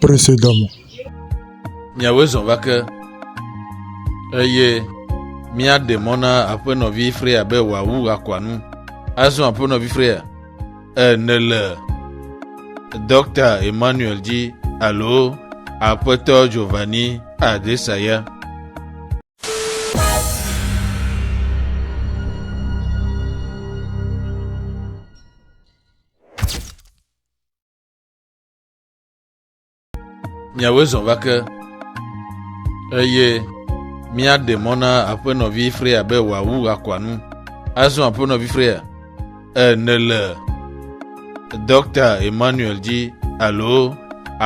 Presedɔm. Miawoe zɔ va ke, eye míaɖe mɔ na aƒenɔvi Freya be wòawu akɔa nu. Azɔ aƒenɔvi Freya, e nèle Dɔkta Emmanuel dzi alo Aƒetɔ Giovanni Adesaya? Miawoe zɔ va ke, eye míaɖe mɔ na aƒenɔvi Freya be wòawu akɔa nu. Azɔ aƒenɔvi Freya, e, nèle Dɔkta Emmanuel dzi alo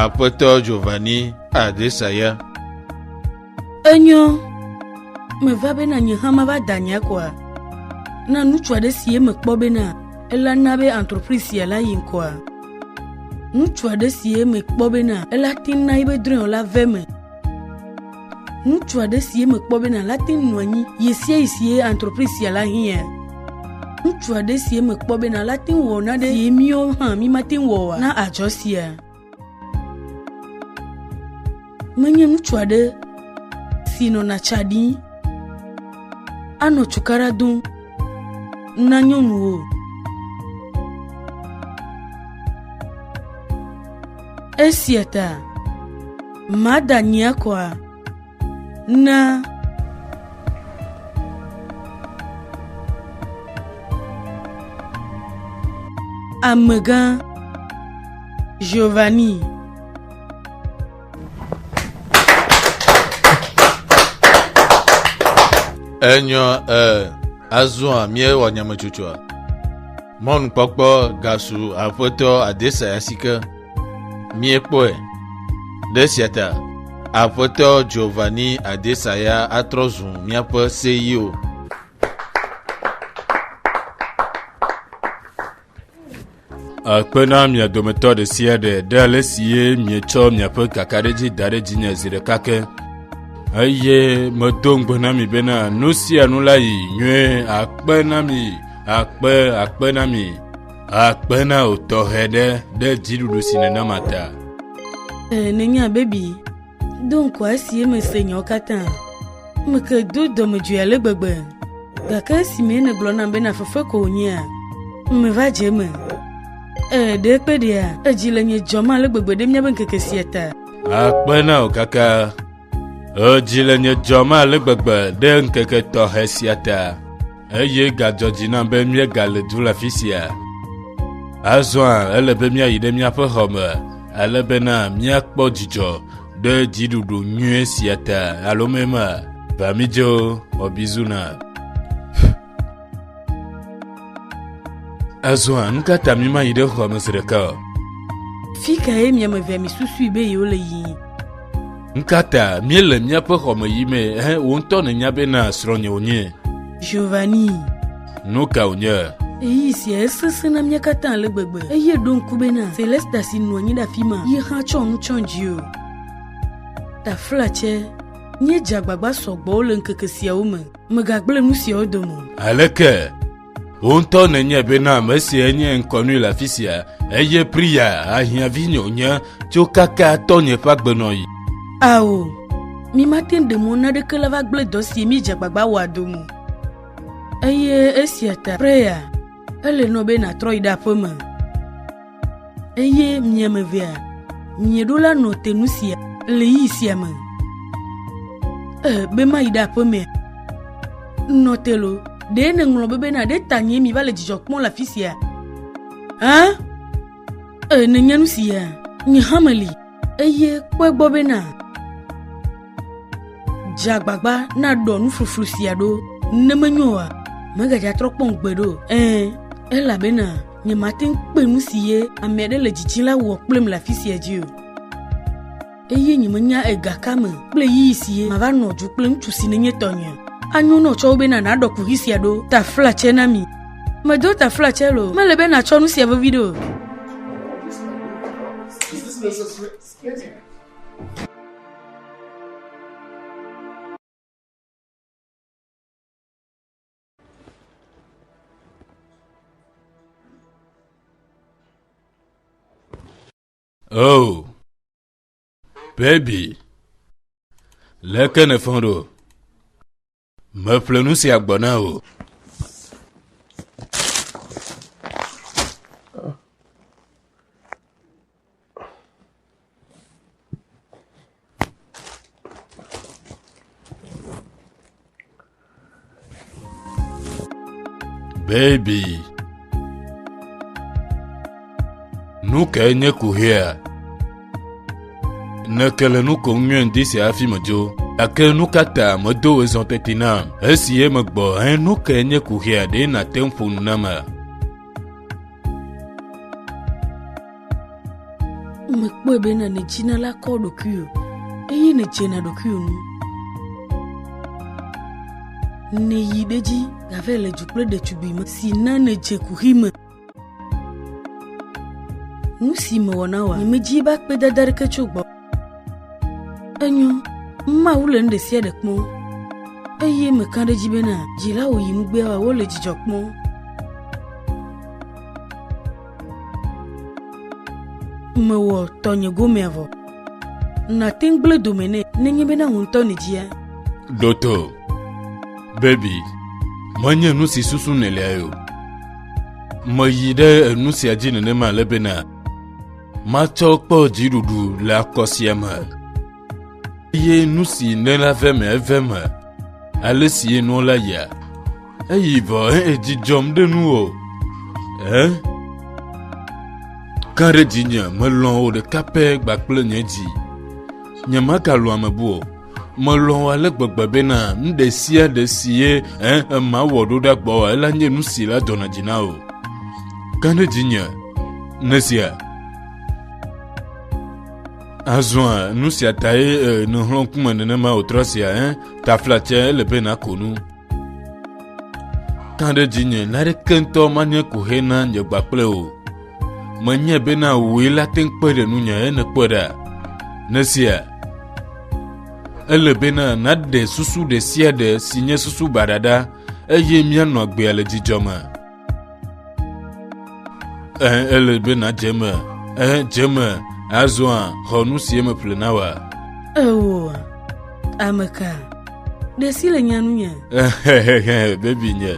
Aƒetɔ Giovanni Adesaya. Enyo, meva bena nye hã mava da nye akɔa na ŋutsu aɖe si eme kpɔ bena ela na be entreprise sia la yi ŋkɔa. Ŋutsu aɖe si eme kpɔ bena ela te na yi be drɔ̃e la ve me. Ŋutsu aɖe si eme kpɔ bena la te nɔ anyi ye sia yi si entreprise sia la hiã. Ŋutsu aɖe si eme kpɔ bena la te wɔ na ɖe si míwo hã mímate wɔ na adzɔ sia. Menye ŋutsu aɖe si nɔna tsa ɖim anɔ cukaɖa dom na nyɔnuwo o. Esia ta mada nyia kɔa Na amegã Giovanni enyɔ eh, azɔa míewɔ nyametsotsoa Mɔnukpɔkpɔ gasu aƒetɔ Adesaya si ke míekpɔe. Ɖe sia ta, aƒetɔ Giovanni Adesaya atrɔ zu míaƒe seyiwo. Akpe na mia dometɔ ɖe sia ɖe ɖe ale si ye mietsɔ miaƒe kakaɖedzi da ɖe dzinye zi ɖeka ke eye medo ŋugbe na mi bena nu sia nu la yi nyuie akpe na mi Akpe, akpe na mi. Akpe na o tɔxɛ ɖe ɖe dziɖuɖu si nèna ma ta. Ee, nenye abebi. Do ŋkɔ esi mese nyawo katã. Meke do dɔmedzoe ale gbegbe. Gake esime nègblɔ nam be nafefe ko wònyea, meva dze eme. Ee, ɖe kpe ɖea, edzi le nye dzɔm ale gbegbe ɖe míabe ŋkeke sia ta. Akpe na o kaka. Edzi le nye dzɔm ale gbegbe ɖe ŋkeke tɔxɛ sia ta, eye gadzɔ dzi nam be míegale du le afi sia. Azɔa ele be míayi ɖe míaƒe xɔ me, ale bena míakpɔ dzidzɔ ɖe dziɖuɖu nyui sia ta alo mema. Va mídzo, xɔbizuna. Azɔa, nu ka ta mimayi ɖe xɔa me zi ɖeka o? Fi kae mia me vea misusui be yewole yiyim? Nu ka ta míele míaƒe xɔ me yim he wò ŋutɔ nènya be na srɔ̃nye wònye? Giovanni. Nu ka wònye? Eyi sia esesẽ na mía katã ale gbegbe eye ɖo ŋku be na Celesta si nɔ anyi ɖe afi ma yi hã tsɔ nu tsɔ dzi o. Taflatse, Míedze agbagba sɔgbɔ le ŋkeke siawo me. Megagblẽ nu siawo dome o. Aleke wò ŋutɔ nènye bena ame sia nye ŋkɔnui le afi sia eye Priya ahiãvinyewo nye tso kaka tɔnye ƒe agbenɔɣi? Ao, mi mate ŋu ɖe mɔ naɖeke le va gblẽ dɔ si míedze agbagba wɔa dome o. Eye esia ta Priya Ele nɔ be nàtrɔ yi ɖe aƒe me. Eye mia me vea, mieɖo la nɔ te nu sia le yi sia me. Ee, be mayi ɖe aƒe me. Nɔ te lo, ɖe nèŋlɔ be bena ɖe ta nye mi va le dzidzɔ kpɔm le afi sia? Hã? Ee, nènya nu si ya, nye hã meli, eye kpɔe gbɔ be na dze agbagba naɖɔ nufluflu sia ɖo, ne menyo oa, megadza trɔ kpɔm gbeɖe o. Ɛ̃, elabena nyemate ŋu kpe nu si ye ame aɖe le dzidzim la wɔ kplim le afi sia dzi o. Eye nyemenya egakame kple ɣeyiɣi si mava nɔ dzo kple ŋutsu si nenye tɔnye. Anyo nɔ tsɔwo bena nàɖɔ kuxi sia ɖo taflatsɛ na mi. Medo taflatsɛ lo. Mele be nàtsɔ nu sia veviɖe o. Oh, baby, leke ne fɔn ɖo? Meƒle nu sia gbɔ na wò. Baby Nu kae nye kuhea? Ne ke le nu kom nyuie ŋdi sia hafi medzo, gake nu ka ta medo wò zɔ teti nam? Esi ye megbɔ he nu kae nye kuhea ɖe nàte ŋu ƒo nu namea? mekpɔe be na nedzina la kɔ ɖokui o eye nedzena ɖokui o nu neyi ɖe dzi gave le dzu kple ɖetugbui me si na nedze kuxi me nu si mewɔ na wa nyemedzi be akpedada ɖeke tso gbɔ Enyo, Mawu le nu ɖe sia ɖe kpɔm, eye meka ɖe edzi bena dzilawo yi nugbea wɔwɔ le dzidzɔ kpɔm. Mewɔ tɔnye gomea vɔ. Nàte ŋu gblẽ dome nɛ nenye bena wò ŋutɔ nèdia. Ɖoto, Baby, menye nu si susu nèliae o. Meyi ɖe enu sia dzi nenema ale bena Matsɔ kpɔ dziɖuɖu le akɔ sia me, eye nu si nela ve me eve me, ale si nɔ la ya. Eyi vɔ edzi dzɔm ɖe nu o. Ɛ? Ka ɖe dzinye melɔ̃ o ɖeka pɛ gbakple nye dzi. Nyemagalɔ̃ ame bu o. Melɔ̃ ale gbegbe bena nu ɖe sia ɖe si ye mawɔ ɖo ɖa gbɔwò ela nye nu si la dɔna dzi na wò. Gã ɖe dzinye nesia. Azɔ nu sia tae nèhlɔ̃ ŋkume nenema wòtrɔ sia, taflatse ele be nàko nu. Gã ɖe dzinye, naneke ŋutɔ manye kohe na nye gbakple o. Menyae bena wòe la te ŋu kpe ɖe nunye ye nèkpɔe ɖa. Nesia, ele bena nàɖe susu ɖe sia ɖe si nye susu baɖa ɖa eye míanɔ agbea le dzidzɔ me. Ee, ele be nàdze eme. Ee, dze eme. Azɔa, xɔ nu si eme ƒle na wa. Ewo, ame ka? Ɖe si le nya nunye. Hehehe, bebi nye.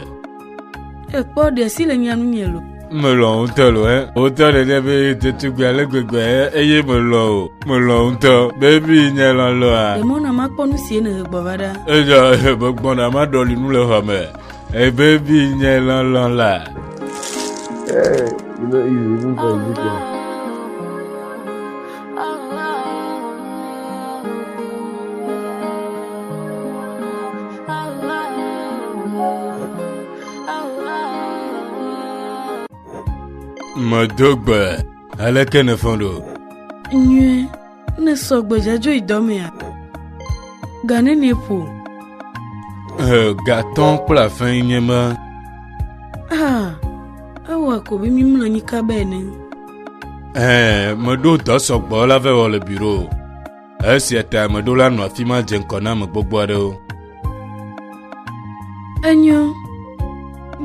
Ekpɔ ɖe si le nya nu nye lo. Melɔ ŋutɔ lo ɛ. Wotɔ ɖe ɖe be ɖetugbui ale gbegbe eye melɔ o. Melɔ ŋutɔ. Bebi nye lɔ lɔa. Emɔ na makpɔ nu si ene gbɔ va ɖa. Eya megbɔ na maɖɔli nu le xɔ me. Ebebi nye lɔ lɔ la. Hey, you know, you even for Ezekiel. Medo gbe, aleke nèfɔ ɖo? Nyuie, ne sɔ gbedzadzɔ yi dɔmea, gane ne ƒo. Gatɔ kple afɛ nye ma. Ah, ewɔ ko be mi mlɔ anyi kabe ene. Eh, meɖo dɔ sɔgbɔ la vɛ wɔ le biro. Esia ta ame ɖola nɔ afi ma dze ŋkɔ na ame gbogbo aɖewo. Enyo,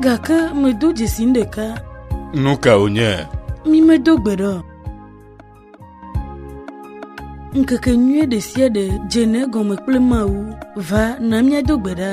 gake medo dzesi nu ɖeka. Nu ka wònye? Mi medo gbe ɖe o. Ŋkeke nyuie ɖe sia ɖe dzena egɔme kple Mawu va na míado gbe ɖa.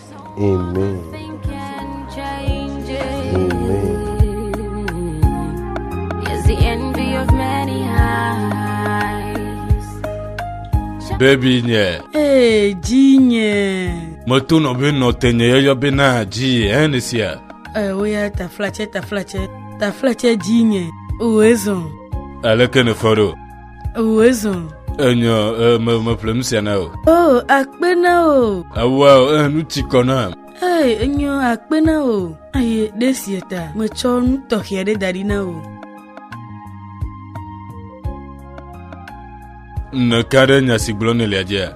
Amen. Baby nye. Hey, ji nye. Meto nɔ be nɔ te nye yɔyɔ be na ji ɛn sia. Ee, woya taflatsɛ taflatsɛ taflatsɛ ji nye. O ezɔn. Aleke ne fɔ ɖo? Ewu ezɔ. Enyɔ me me ƒle nu sia na o. O akpe na o. Ewa o eh nu ti kɔ na. Ee enyɔ akpe na o. Aye ɖe sia ta metsɔ nu tɔxɛ aɖe da ɖi na o. Nèka ɖe nya si gblɔ nèlia dzea?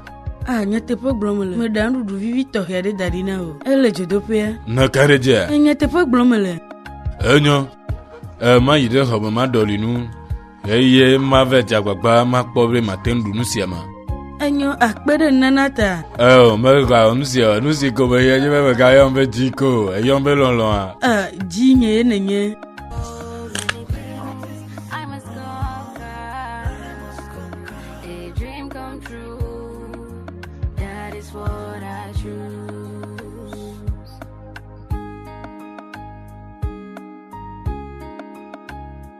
A ah, nyateƒe gblɔm le. Meɖa nuɖuɖu vivi tɔxɛ aɖe da ɖi na o. Ele dzodoƒea. Nèka ɖe dzea? Nyateƒe gblɔm le. Enyɔ. Ema yi ɖe xɔme ma ɖɔli nu. Ɣeyiɣie ma ve dze agbagba makpɔ be mate ŋu ɖu nu sia ma. Enyo akpe ɖe nunana ta. Eo, megawɔ nu sia o. Nu si gome ye nye be megayɔm be dzi ko o. Èyɔm be lɔlɔ̃a. E, dzi nye ye nenye.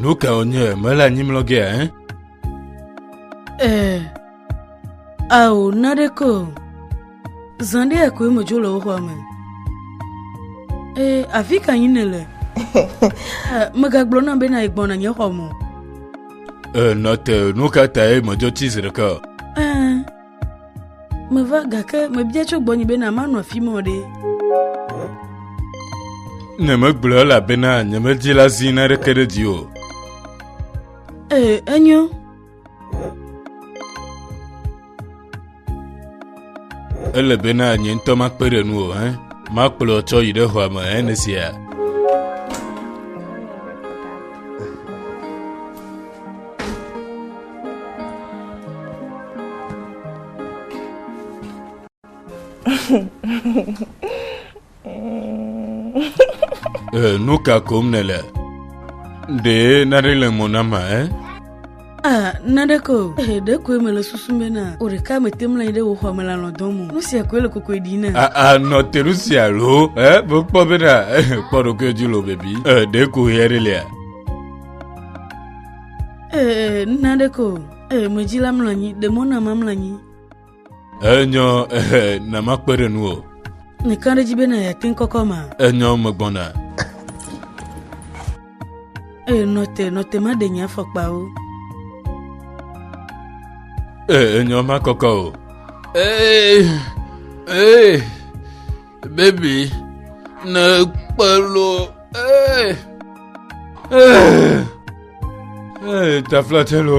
Nu kae wònye mele anyi mlɔgea ɛ? Ee, ao naɖeke o. Zã ɖea koe medzo le wo xɔa me. Ee, afi ka yim nèle? Eh, megagblɔ nam be na yegbɔna nye xɔ me. Ee, eh, nɔte, nu ka tae medzo ti zi ɖeka? Ee, eh, meva gake mebia tso gbɔnye be na manɔ afi mɔ ɖe. Ne megblɔ elabena nyemedi la zi na ɖeke ɖe dzi o. Ee, enyo. ele bena nye ŋutɔ makpe ɖe nu o hɛn makplɔ tsɔ yi ɖe xɔa me hɛn ne sia. Eh, nu ka kom nèle? Ɖe naɖe le mo na ma, eh? Ah, naɖe ko. Eh, ɖe koe mele susum be na o ɖeka mete mla ɖe wò xɔ me la lɔdɔ mo. Nu sia koe le kokoe ɖi na. Ah, ah, nɔ te nu sia lo, eh? Bo kpɔ be na, eh, kpɔ ɖokoe dzi lo bebi. Eh, ɖe ko hɛ ɖe lia. Eh, naɖe ko. Eh, medzi la mla nyi, ɖe mo na ma mla nyi. Enyɔ ehe na makpe ɖe nuwò. Mekã ɖe edzi be na yeate ŋkɔkɔ ma. Enyɔ megbɔna. Ee, nɔte, nɔte maɖe nye afɔkpawo. Ee, enyɔ makɔkɔ o. Ee, ee. Baby, ne kpe lo, ee, ee, ee, taflatɛ lo.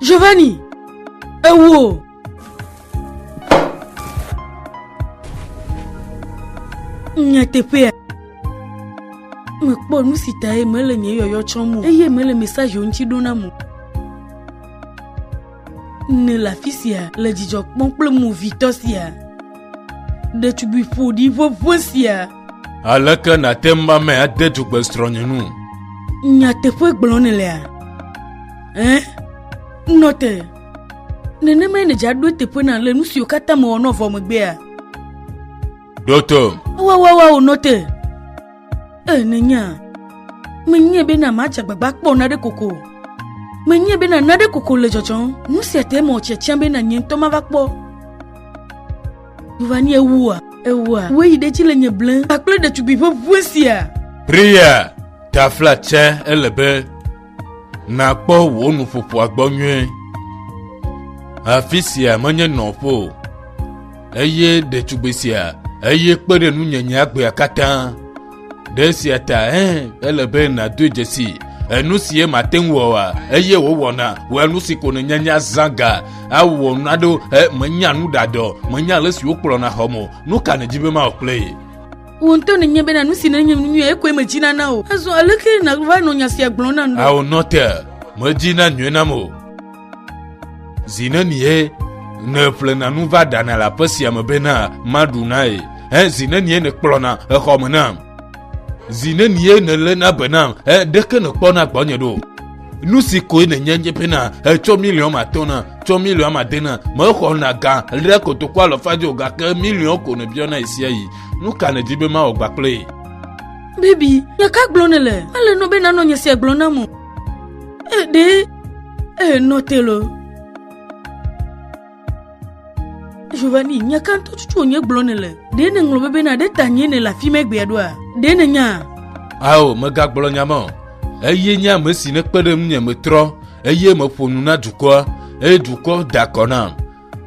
Giovanni, ewo. Nyateƒea. Mekpɔ nu si tae mele nye yɔyɔ tsɔm o eye mele mesaje ŋuti ɖo nam o. Nèle afi sia le dzidzɔ kpɔm kple movitɔ sia, ɖetugbui ƒoɖi ʋeʋẽ sia. Aleke nàte ŋu ame ade dugbe srɔ̃nye nu? Nyateƒe gblɔm nèlea? Ẽ, nɔ te. Nenemae nèdze aɖo eteƒe na le nu siwo katã mewɔ nɔ vɔ megbea? Ɖo tom. Wawawa wònɔ te. Ee, nènya. Menyae bena madze agbagba akpɔ naɖe koko o. Menyae bena naɖe koko le dzɔdzɔm. Nu sia te eme wòtsia tiam bena nye ŋutɔ mava kpɔ. Wova ni ewua, ewua. Wue yi ɖe edzi le nye blem kpakple ɖetugbui ƒe ŋue sia. Priya, tafla tse ele be. Nàkpɔ wò nuƒoƒoa gbɔ nyuie. Afi sia menye nɔƒo o, eye ɖetugbui sia eye kpe ɖe nunyenye agbea katã. Ɖe sia ta ɛ ele be nàdo dzesi enu si ye mate ŋu wɔa eye wòwɔna wɔa nu si ko nènya nya zãga awɔ nu aɖewo menya nu ɖadɔ menya ale si wokplɔna xɔmo nu ka nèdi be mawɔ kple ye. Wò ŋutɔ nènye bena nu si nènye nu nyuie koe medzi nana o. Azɔ aleke nàva nɔ nya sia gblɔm nam ɖo? Ao nɔte, medzi na nyuie nam o. Zi nenie nèƒlena nu va ɖana le aƒe sia me bena maɖu na ye? He zi nenie nèkplɔna exɔ me nam? Zi nenie nèléna be nam? He ɖeke nèkpɔna gbɔnye ɖo? nu si koe nènye nye bena etsɔ miliɔn atɔ̃ na tsɔ miliɔn ade na mexɔna gã ɖe kotoku alɔfadzio gake miliɔn ko nèbiɔna ɣesiaɣi Nu ka nèdi be mawɔ gbã kple Bebi, nya ka gblɔ nèle? Ele nɔ be nanɔ nye sia gblɔ nam o. Ee, ɖe ee nɔ te lo. Giovanni, nya ka ŋutɔ tutu wònye gblɔ nèle? Ɖe nèŋlɔ be bena ɖe ta nye nèle afi mɛ gbea ɖoa? Ɖe nènya? Ao, megagblɔ nya ma o. Eye nye ame si nekpe ɖe ŋunye metrɔ, eye meƒo nu na dukɔa, eye dukɔ da akɔ nam.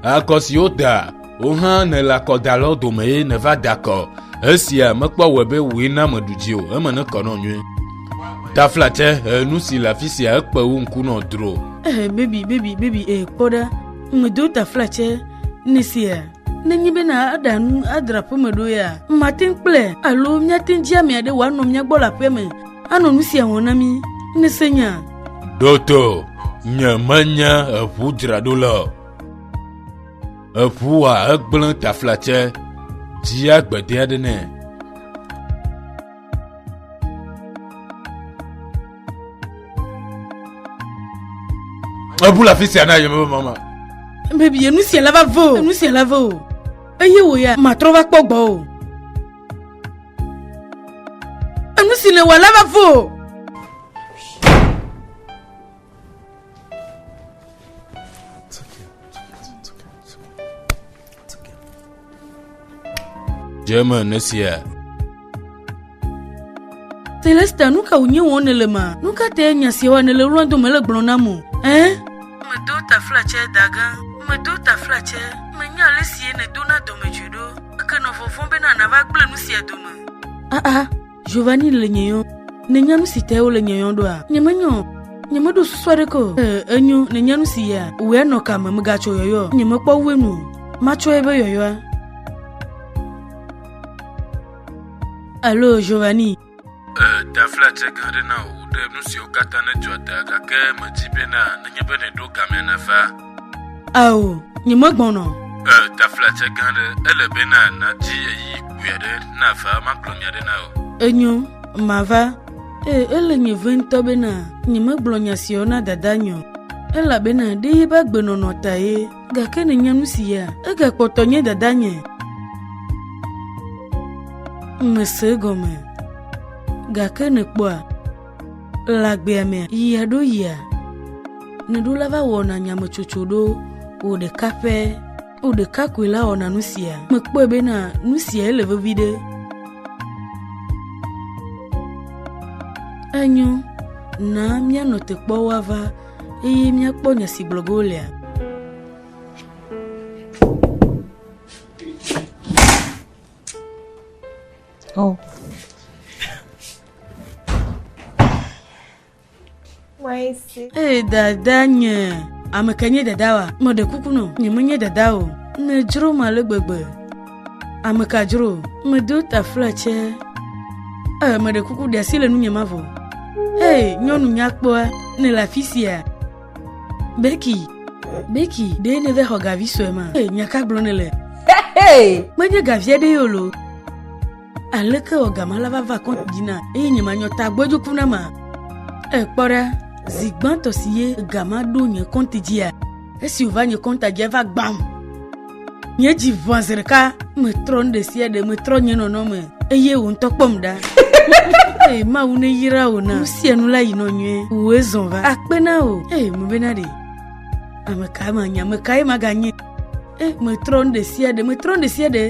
Akɔ si woda wò hã nèle akɔdalɔ dome ye nèva da akɔ. Esia mekpɔ wɔ be wòe na meɖu dzi o, eme ne kɔ nɔ nyuie. Taflatse he nu si le afi sia ekpe wo ŋku nɔ dro. Eh, baby, baby, baby, eh, kpɔ ɖa, medo taflatse ne sia. Nenye be na aɖa nu adra aƒeme ɖo ya, mate ŋu kple alo míate ŋu dzi ame aɖe wòanɔ mía gbɔ le aƒea me Anɔ nu sia wɔm na mí, nèse nya. Ɖo to, nye menye eŋu dzraɖo le o. Eŋua egblẽ taflatse, dzia gbede aɖe nɛ. Ebu le afi sia na yeme be mama. Bebie, nu sia la va vɔ o, nu sia la vɔ o. Eye wò ya, matrɔ va kpɔ gbɔ o. Enu si nèwɔ la va fo o. German esia. Celesta, nu ka wònye wɔm nèle ma? Nu ka tae nya siawa nèle wlɔm do mele gblɔm nam o? Ẽ? Medo taflatsɛ, dagã. Medo taflatsɛ. Menya ale sie nèdona dɔmedzoe ɖo. Ke nɔ vɔvɔ̃m bena nàva gblẽ nu sia dome. Aa, Giovanni le nye yɔm. Nènya nu si tae wole nye yɔm ɖoa? Nyemenye o. Nyemeɖo susu aɖeke o. Ee, enyo, nènya nu si ya. Wòe nɔ ka me? Mègatso yɔyɔ o. Nyemekpɔ ŋu enu o. Matsɔe be yɔyɔa. Alo, Giovanni. Dafla dze gã ɖe na wò ɖe nu siwo katã nedzɔ ta, gake medi bena nenye be nèɖo gamea nèva. Ao, nyemegbɔnɔ. Dafla dze gã ɖe, ele bena nàdi eyi kpui aɖe nava makplɔ nya ɖe na wò. Enyo, mava. Ee, ele nye ve ŋutɔ bena nyemegblɔ nya siawo na dada nye o, elabena ɖe yi be agbenɔnɔ tae. Gake nènya nu si ya? Egakpɔtɔ nye dadanye. Mèse egɔme. Gake nèkpɔa? Le agbea mea, yia ɖo yia, nèɖola va wɔna nyametsotso ɖo wò ɖeka ƒe. Wò ɖeka koe la wɔna nu sia. Mekpɔe bena nu siae le vevi ɖe. Enyo, na míanɔ te kpɔ woava. eye míakpɔ nya si gblɔ ge wolea? Oh. Ee, dada nye ame ka nye dada wa? Meɖe kuku nɔ, nyemenye dada o. Nedzro ma le gbegbe. Ame ka dzro medo tafla tsɛ. Ee, meɖe kuku ɖe asi le nunye mavɔ. Hei, nyɔnu nyakpɔa, nèle afi sia. Beki, Beki, ɖe nève xɔ gavi sue ma. Hei, nya ka gblɔ nèle? Menye gavi aɖe ye olo. Aleke wɔ gama la va va kɔnti dzi na eye nye manyɔ ta gbɔdzoku na ma? Ee, kpɔ ɖa, zi gbãtɔ si ye gama ɖo nye kɔnti dzia, esi wòva nye kɔnta dzia va gbam. Nye dzi ʋã zi ɖeka, metrɔ nu ɖe sia ɖe, metrɔ nye nɔnɔme eye wò ŋutɔ kpɔm ɖa. Ee, Mawu neyra wò na nu sia nu la yinɔ nyuie. Wòe zɔ va. Akpe na wò. Ee, mebena ɖe. Ame kae manye, ame kae maganye? Ee, metrɔ nu ɖe sia ɖe, metrɔ nu ɖe sia ɖe.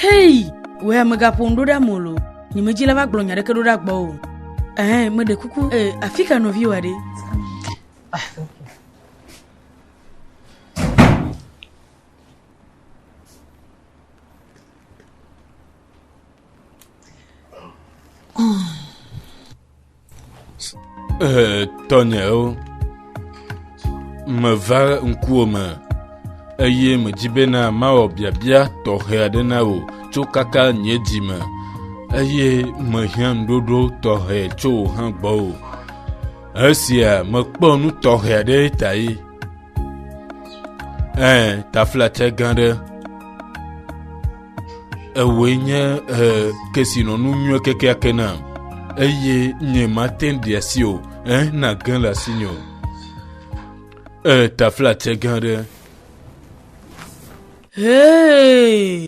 Hei, wòe amegaƒo nu ɖo ɖa molo. Nye medzi la va gblɔ nya ɖeke ɖo ɖa gbɔ o. Ɛhɛn, meɖe kuku. Ee, afi ka nɔviwòa ɖe? Eh, tɔnyewo meva ŋkuwo me eye medzi bena mawɔ biabia tɔxɛ aɖe na wò tso kaka nye dzi me eye mehiã nuɖoɖo tɔxɛ tso wò hã gbɔ o Esia mekpɔ nu tɔxɛ aɖe ta ye. Ɛ taflatse gã ɖe. Ewoe nye ɛ kesinɔnu nyuie kekeake na eye nye mate ŋu ɖia si o. Ɛ na ge le asi nye o. Ɛ taflatse gã ɖe. Hey!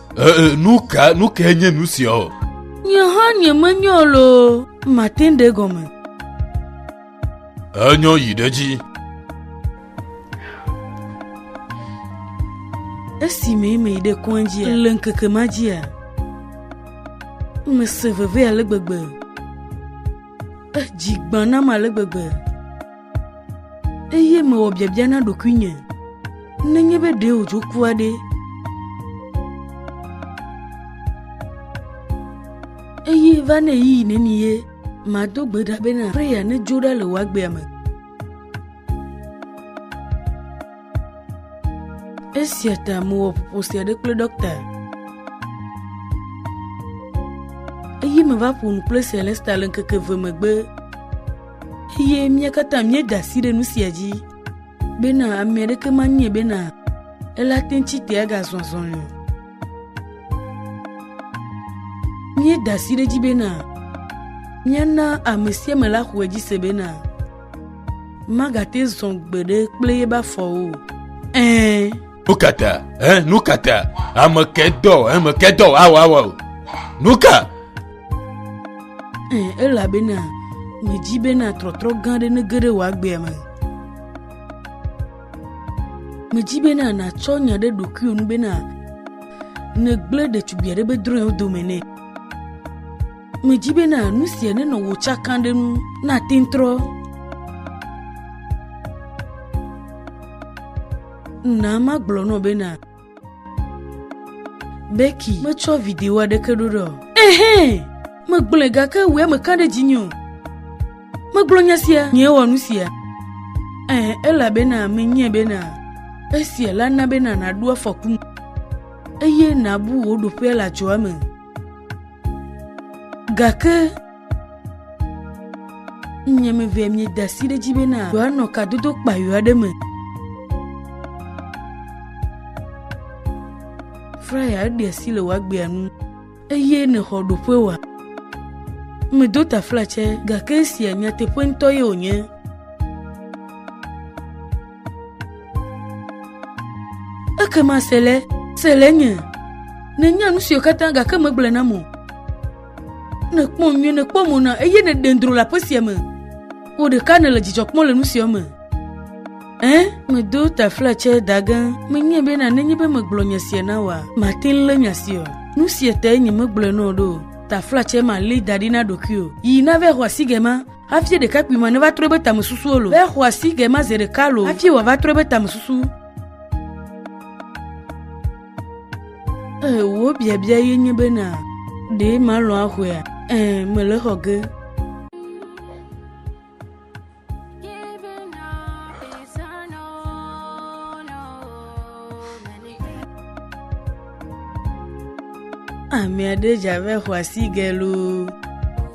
Ee, nu ka nu kae nye nu sia o? Nye hã nyemenyɔ loo, mate ŋu ɖe gɔme. Enyɔ yi ɖe dzi. Esi me me ɖe kɔndzia le ŋkeke ma dzia, mese veve ale gbegbe. Edzi gbã nam ale gbegbe. eye mewɔ biabia na ɖokuinye nenye be ɖe wòdzo kua ɖe. Eye va ne yi neni ye mado gbe ɖa be na preya nedzo ɖa le wòagbea me. Esia ta mewɔ ƒoƒo sia ɖe kple ɖɔkta. Eye meva ƒo nu kple Celesta le ŋkeke ve megbe. Eye mía katã míeda asi ɖe nu sia dzi bena ame aɖeke manye bena ele ate ŋu tsi te agazɔ azɔli o. Míeda asi ɖe edzi bena míana ame sia ame la xɔ edzi se bena magate zɔ gbeɖe kple eƒe afɔwo o. Ɛ̃. nukata ɛ nukata ame kɛ dɔ ame kɛ dɔ awɔ awɔ o nuka. ɛ elabena medzi bena trɔtrɔ gã aɖe nege ɖe wò agbea me medzi bena nàtsɔ nya ɖe ɖokuiwò nu bena negblẽ ɖetugbui aɖe be drɔ̃e wo dome nɛ medzi bena nu sia nenɔ wò tsaka ɖe nu nate ŋu trɔ Na magblɔ nɔ bena Becky metsɔ video aɖeke ɖo ɖe o. Ehɛ, megblɔe gake wòe meka ɖe dzinye o. Megblɔ nya sia, nyee wɔ nu sia. Ehɛ, elabena menyae bena esia la na bena nàɖo afɔku me eye nàbu wò ɖoƒe le adzɔa me. Gake Nye me vɛ mi da si ɖe dzi bena yewoanɔ kadodo kpayo aɖe me. Fraya eɖi asi le woagbea nu eye nèxɔ ɖoƒe wa. Medo tafla tsɛ gake esia nyateƒe ŋutɔ ye wònye. Ekema Sele, Sele nye, nènya nu siwo katã gake megblɔe nam o. Ne èkpɔ nyuie, nèkpɔ mo na, eye nèɖe dro le aƒe sia me. Wò ɖeka nèle dzidzɔ kpɔm le nu sia me. Ẽ, medo taflatse da ge menyae bena nenye be megblɔ nya sia na wòa, màte ŋu lé nya si o. Nu sia tae nyemegblɔe na wò ɖo o. Taflatse ma lée da ɖi na ɖokuiwò. Yi nave xɔ asi gema hafi ɖekakpui ma neva trɔ eƒe tamesusuwo lo. Ve xɔ asi gema zi ɖeka lo hafi wòava trɔ eƒe tamesusu. Ee, wò biabia ye nye bena, ɖe malɔ axɔea? Ee, mele xɔ ge. Ame aɖe dze abe xɔasi ge loo.